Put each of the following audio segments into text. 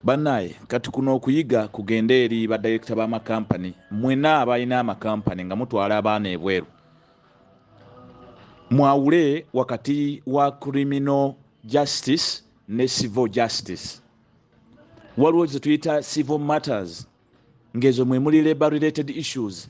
Banaye kati kuno okuyiga kugende eri ba director ba ma company mwena abalina ama company nga mutwala abaana ebweru mwawule wakati wa criminal justice ne civil justice waliwo zetuyita civil matters ngezo mwemuli labor related issues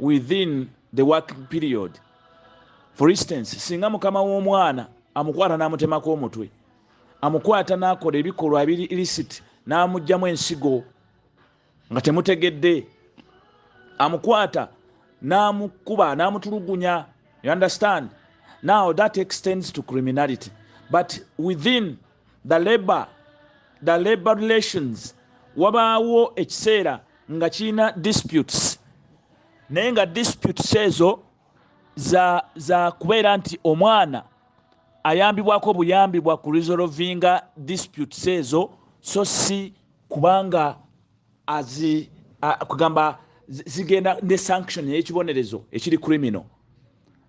within the working period for instance singa mukama w'omwana amukwata n'amutemako omutwe amukwata n'akola ebikolwa ebiri illicit n'amugjamu ensigo nga temutegedde amukwata n'amukuba n'amutulugunya you understand now that extends to criminality but within the labor the labor relations wabaawo ekiseera nga kirina disputes naye nga disputes ezo za, za kubeera nti omwana ayambibwako buyambi bwa ku resolvinga disputes ezo so si kubanga azi kugamba zigenda ne sanction eyekibonerezo ekiri criminal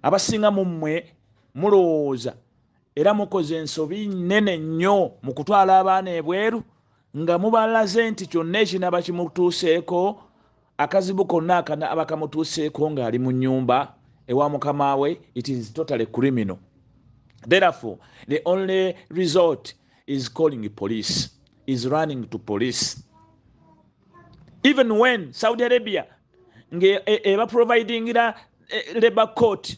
abasinga mummwe mulowooza era mukoze ensobi nene nnyo mu kutwala abaana ebweru nga mubalaze nti kyonna ekinaba kimutuuseeko akazibu konna akanaba kamutuuseeko ng'ali mu nyumba ewa mukama we it is totally criminal therefore the only resort is calling police is running to police even when saudi arabia nga e, e, ebaprovidingira e, labor court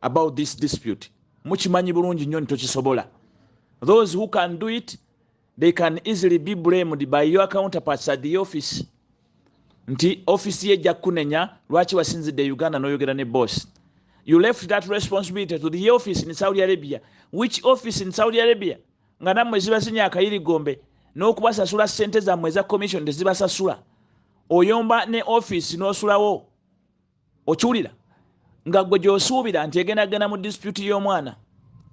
about this dispute mukimanyi bulungi nnyo nitokisobola those who can do it they can easily be blamed by your counterparts at the office nti office ye ejja kukunenya lwaki wasinzidde e uganda noyogera ne boss you left that responsibility to the office in saudi arabia which office in saudi arabia nga nammwe zibazinya akayirigombe n'okubasasula sente zammwe eza commission tezibasasula oyomba ne office n'osulawo okiwulira nga gwe gyosuubira nti egendagenda mu disipyuti y'omwana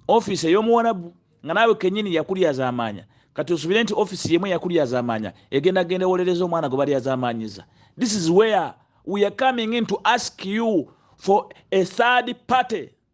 ofiisi ey'omuwarabu nga naawe kenyini yakulyazamaanya kati osubire nti ofiisi yemu eyakulyazamaanya egenda genda ewolereza omwana gwe balyazamanyiza this is where we are coming in to ask you for a third party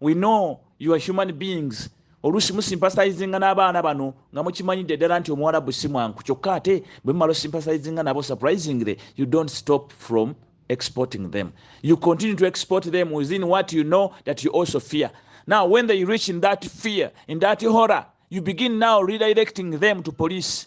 We know you are human beings. Olusi musimpasaizinga n'abaana bano nga mukimanyidde ddala nti omuwarabu si mwanku kyokka ate bwe mumala osimpasaizinga nabo surprisingly you don't stop from exporting them. You continue to export them within what you know that you also fear. Now when they reach in that fear, in that horror, you begin now redirecting them to police.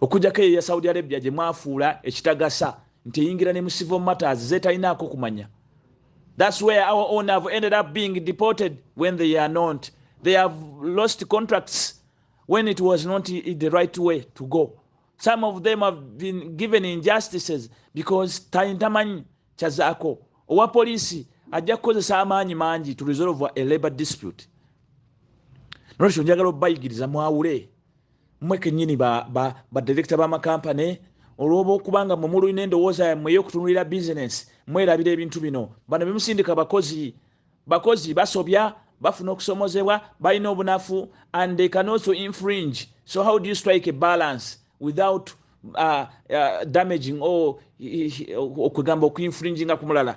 okujjako eyo ya saudi arabia gye mwafuula ekitagasa nti eyingira ne mu civil matters zetalinaako kumanya thats where our own have ended up being deported when they are not they have lost contracts when it was not the right way to go some of them have been given injustices because taintamanyi kyazaako owa poliisi ajja kukozesa amaanyi mangi to resolve a labor dispute nolwekyo njagala obayigiriza mwawule mwe kenyini badirekita ba, ba, bamakampane olwoba okubanga mwe mululina endowooza yammwe eyokutunulira bizinesi mwerabira ebintu bino bano bemusindika bakozi bakozi basobya bafuna okusomozebwa balina obunafu and they can also infringe so how do you strike a balance without uh, uh, damaging or okugamba okuinfringinga ku mulala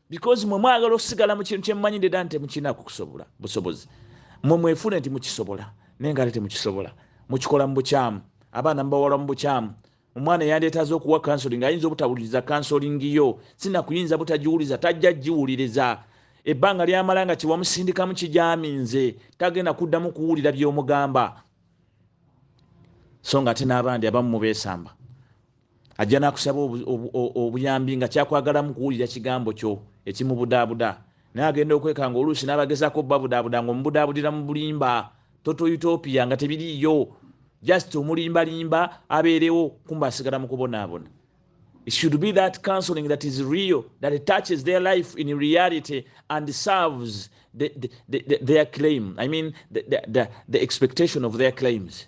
because mwe mwagala osigala mu kintu kyemumanyi ndeda nti temukinako kusobola busobozi mwe mwefune nti mukisobola naye nga ate temukisobola mukikola mu bukyamu abaana mubawala mu bukyamu omwana yandetaza okuwa kansoling ayinza obutawuliriza kansoling yo sina kuyinza butagiwuliza tajja giwuliriza ebbanga lyamala nga kyewamusindikamu kijaminze tagenda kuddamu kuwulira byomugamba so nga ate n'abandi abamu mubesamba Ajja n'akusaba obuyambi nga kyakwagalamu kuwulira kigambo kyo ekimubudaabuda. Naye agenda okwekanga oluusi n'abagezaako obubabudaabuda ng'omubudaabudira mu bulimba. Total Utopia nga tebiriiyo. Just omulimbalimba abeerewo kumbe asigala mu kubonaabona. It should be that counseling that is real, that touches their life in reality and serves the, the, the, their claim. I mean, the, the, the, the expectation of their claims.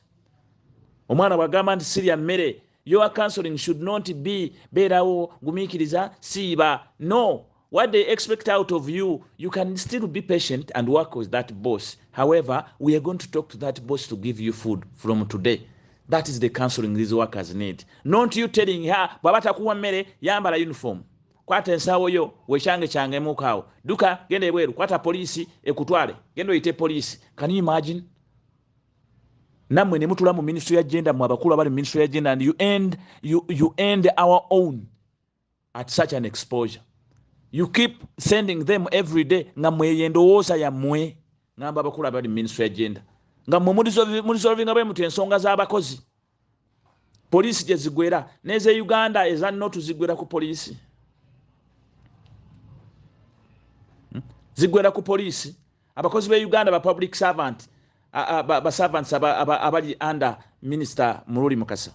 omwana bwagamba nti sirya mmere your counseling should not be beerawo gumiikiriza siiba no what they expect out of you you can still be patient and work with that boss however we are going to talk to that boss to give you food from today that is the counseling these workers need not you telling her bwaba takuwa mmere yambala uniform kwata ensawo yo wekyange kyange mukaawo duka genda ebweru kwata poliisi ekutwale genda oyite poliisi can you imagine namwe nemutula mu ministry ya genda mwe abakulu abali mu ministry ya genda and you end, you, you end our own at such an exposure you keep sending them every day nga mweyo endowooza yammwe ngamba abakulu abali mu ministry ya genda nga mwe mulisolvinga bwe muti ensonga z'abakozi poliisi gye zigwera n'eze uganda eza notu zigwera ku poliisi hmm? zigwera ku poliisi abakozi b'e uganda ba public servant baservants abali under minisita mululi mukasa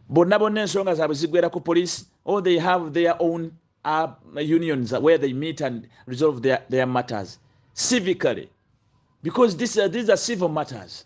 bonna bonna ensonga zaabwe zigwera ku poliisi or they have their own uh, unions where they meet and resolve their, their matters civically because this, uh, these are civil matters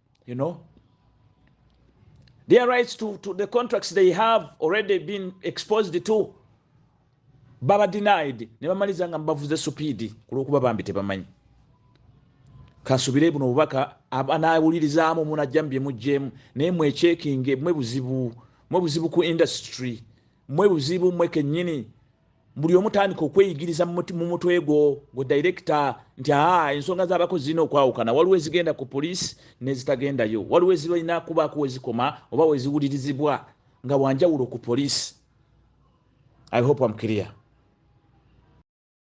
you know their rights to, to the contracts they have already been exposed to baba denied ne bamaliza nga mbavuze supiidi ku lwokuba bambi tebamanyi kansubire buno obubaka anaawulirizaamu munajjamu bye muggyemu naye mwekyekinge mwe buzibu mwe buzibu ku industry mwe buzibu mwe kenyini buli omu tandika okweyigiriza mu mutwe gwo gwe direkita nti aa ensonga z'abakozi zirina okwawukana waliwo ezigenda ku poliisi n'ezitagendayo waliwo ezirina kubaako wezikoma oba weziwulirizibwa nga wanjawulo ku poliisi i hope am clear